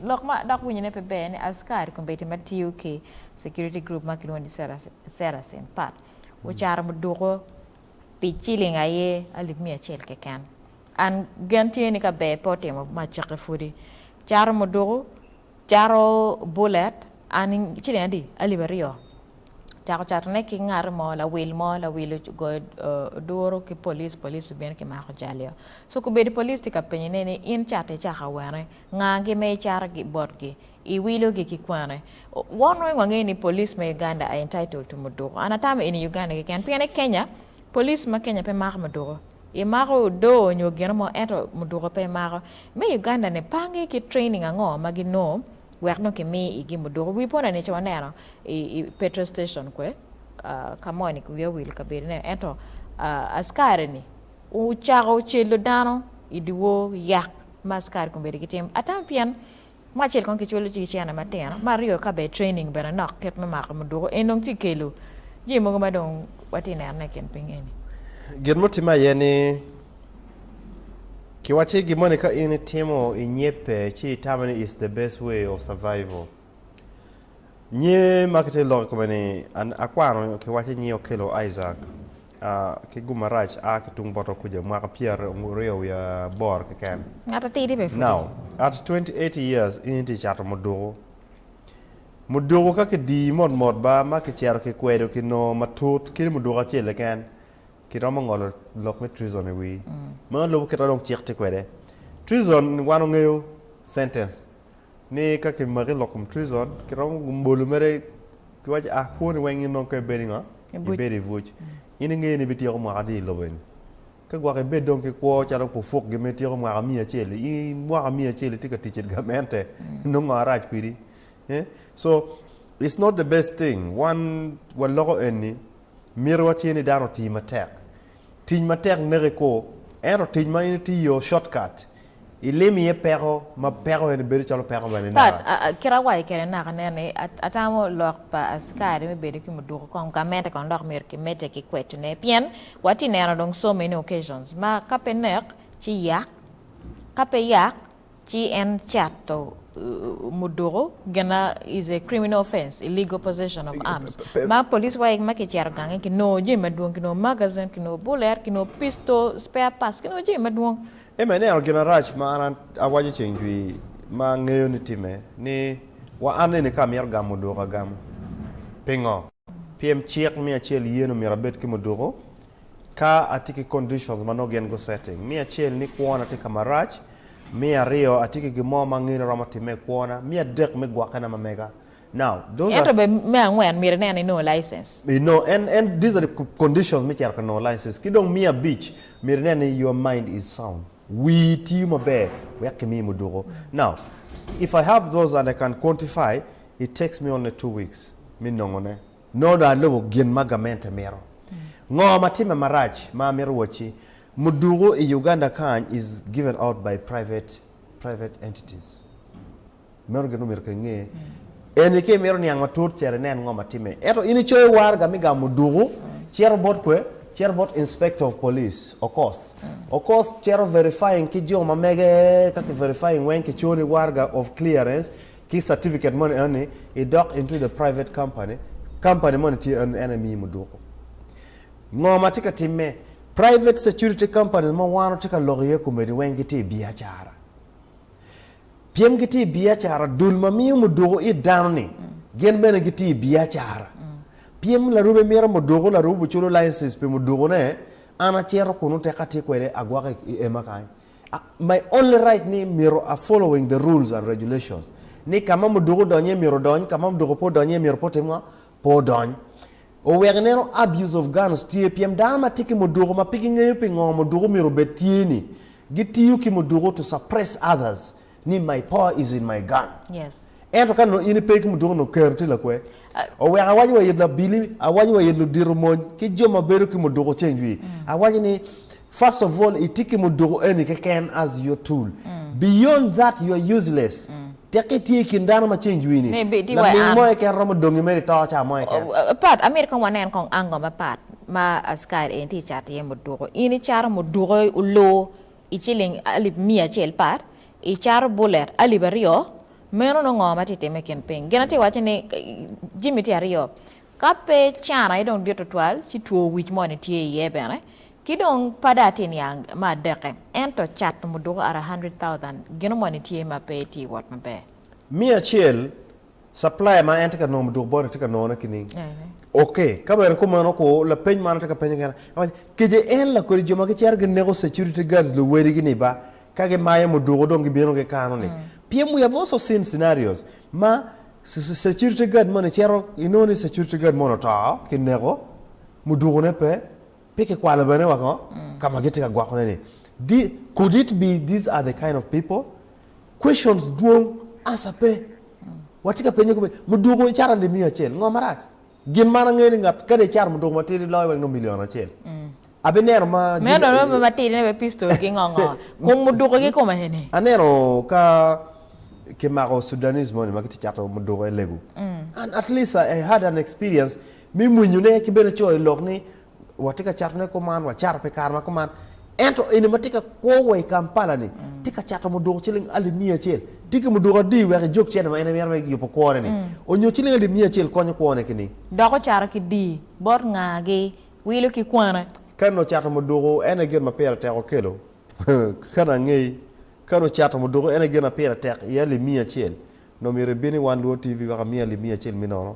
Lok ma adok winyone pe ber ni askari kombeddi ma tiyo ki security group ma kilwongo ni Saracen Path ocato muduko pi ciling aye alip miya acel keken. An gen tye ni ka ber pe otimo ma cake pwodi. Cato muduko, cato bullet, an ciling adi? Alip aryo. Cako catone ki ngati mo, lawil mo, lawil ogoyo oduro ki police, police obino kimako jalio. So kombeddi police tye ka penyone ni in catte caka wene? Ngagi ma icato gi botgi, iwilo gi ki kwane. Wan weng wangeyo ni police me Uganda are entitled to muduku. An atamo in i Uganda keken. Pien i Kenya, police ma Kenya pe mako muduku. I mako odoo onyo gino mo ento muduku pe imako. Me Uganda ni pangi ki training ango ma gi noo wek dong ki mi i gi muduku. Wi pona ni ce waneno i i petrol station kwe, ka mo ni wiya owil kabedo ne, ento askari ni. ocako celo dano i dyewor yek ma askari kong bedo ki tim ata pien me acel kong kicwalo ci ki cene matino me aryo ka bene training bene nok kit me mako muduku en dong ci kelo jami mogo ma dong watye neno ne i kin piny eni. Gin mutimme aye ni ki wacci gin moni ka in itimo i nyebbe ci itamo ni it's the best way of survival nyi ma kitye lok i kome ni akwano ki wacci nyi Okello Isaac. ki gum marac a ki tung bote okuca mwaka pyeraryo wiye aboro keken. Ngat atidi be pudi. Now, at 28 years in itye cato muduku. Muduku ka kidii mot mot ba ma kicito kikwedo kinongo matut kit muduku acel keken, kiromo ngolo lok me treason i wii. Meno lubo kit ma dong cik tye kwede. Treason wan ongeyo sentence. ni ka ki maki lok kom treason ki romo bolo mere ki waci ah kwoni weng in dong ka i bedi ngo i bedi i buc in i ngeyo ni bi tyeko mwaka adi i lobo eni ka gwok i bed dong ki kwo calo pu puk gi me tyeko mwaka miya acel i i mwaka miya acel i tye ka tic i gamente nongo ngo arac kwidi eh so it's not the best thing wan wa loko eni Mitowa tye ni dano oti matek. Tic matek neke kor, ento tic ma in itiyo yo, shortcut, ilim iye peko ma peko eni bedo calo peko mene Pat, naka? a, a, kit awaco kede naka nen ni, a, atamo lok pa acikari me bedo ki muduku kong ka mete kono dok myero kimedde ki kwetine. Pien watye ka neno dong so many occasions ma ka pe nek, ci yak, ka pe yak, ci en cato muduku gin ma is a criminal offence, illegal possession of arms, ma police wa ma kicito gange kinongo jami madwong, kinongo magazine, kinongo bullet, kinongo pistol, spare parts, kinongo jami madwong. Ema ineno gin marac ma an awaco ceng jwi ma angeyo ni timme ni wa an eni ka amito gamo muduku agamo. Pingo? Pien cik miyo acel yen omyero abed ki muduku Ka atye ki conditions ma nongo gin gu setting, me acel ni kwona tye ka marac, me aryo atye ki gin mo ma angene romo timme i kwona, me adek me gwokkena ma mega. Now, those are. Ento be me angwen myero inen ni inongo license. I no, en, en, these are the conditions me cito ka nongo license. Ki dong me abic, myero inen ni your mind is sound, wii tiyo maber wek kimiyi muduku. Now, if I have those and I can quantify, it takes me only two weeks me nongone. Nongo dong alubo gin ma gamente mito. Ngo ma timme marac ma amito wacci, muduku i Uganda kany is given out by private private entities. Meno gin omyero ka inge. En ni ka imito niang matut cito inen ngo ma timme. Ento in icoyo waraga me gamo muduku cito bot kwe? Cito bot inspector of police Okoth. Okoth cito verifying ki jo ma mege ka ki verifying weng ki coni waraga of clearance Ki certificate moni enoni idok into the private company, company moni tye enoni en aye miyi muduku. Ngo ma tye ka timme? Private security companies ma wan watye ka lok iye komedi weng gitye i biacara. Pien gitye i biacara, dul ma miyo muduku it dano ni gin bene gitye i biacara. Pien larube mito muduku, larube oculo license pi mudukune, an acito kunu teka atye kwede agwoko i ema kany. My only right ni myero a following the rules and regulations ni kama muduku odonyo iye myero odony, kama muduku pe odonyo iye myero pe otim ngo? Pe odony. Oweko ineno abuse of guns tye pien dano ma tye ki muduku ma pe gingeyo pingo muduku myero obed tye ni gitiyo ki muduku to suppress others ni my power is in my gun Yes. ento ka nongo in ipe ki muduka nongo kero tye lakwe oweko awaco wa it labili awaco wa it ludito mony ki jo ma bedo ki muduka ceng jwi awaco ni first of all itye ki muduka eni keken as your tool beyond that you are useless teki itye i kin dano ma ceng jwi ni Ni bi- di wa laming am. mo keken romo dongi mere ito ca mo keken O- o- Pat, amito kong wanen kong ango mapat ma askari eni tye cato iye muduka. In icato muduka olu i ciling alip miya acel pat i cato bullet alip aryo meno nongo ngo ma tye time i kin ping gin atye waco ni jimi tye aryo ka pe can aye dong dit tutwal ci two wic moni tye iye bene ki dong pada atye niang me adeke ento cat muduko are hundred thousand gino moni tye ma pe tye wot maber. Miya acel Supplier ma en tye ka nongo muduk bone tye ka nongone kining? Ok, ka bene kumeno ko, lapeny man atye ka penye kena, awaco, Kece en lakodi jo ma gicito gineko security guards luwedigi-ni ba ka gimayo muduku dong gibino gikano-ni? Pien we have also seen scenarios ma security guard moni cito, inongo ni security guard moni oto, kineko, mudukune pe, pe kikwalo bene woko ka ma gitye ka gwokone-ni. Could it be these are the kind of people? Questions dwong, answer pe. Watye ka penye kome, mudoko icato ande miya acel, ngo marac? Gin man angeyo ni ngat kadi icato mudoko matidi loyo wek nongo million acel. Abineno ma Meno dong nongo pe matidi ne pe pistol ki ngo ngo. Kom mudoko ki kome eni. Aneno ka kimako Sudanese moni ma kitye cato mudoko e lego. And at least I had an experience me mwinyone ki bene coyo lok ni watye ka cato ne kuman, wacato pi kare ma kuman. Ento eni ma tye ka kwo wa i Kampala ni, tye ka cato muduku ciling alip miya acel. Tye ki muduku adi wek ijog cente ma en imito me yubo kwone ni? Onyo ciling alip miya acel konyo kwone ki ni? Dok ocato ki di, bot nga? Gi wilo ki kwana? Kani ocato muduku, en aye gin ma pire tek okelo. Kani angey, kani ocato muduku, en aye gin ma pire tek iye alip miya acel. Nongo myero ibin i wan luo TV wek amiyi alip miya acel mi nono.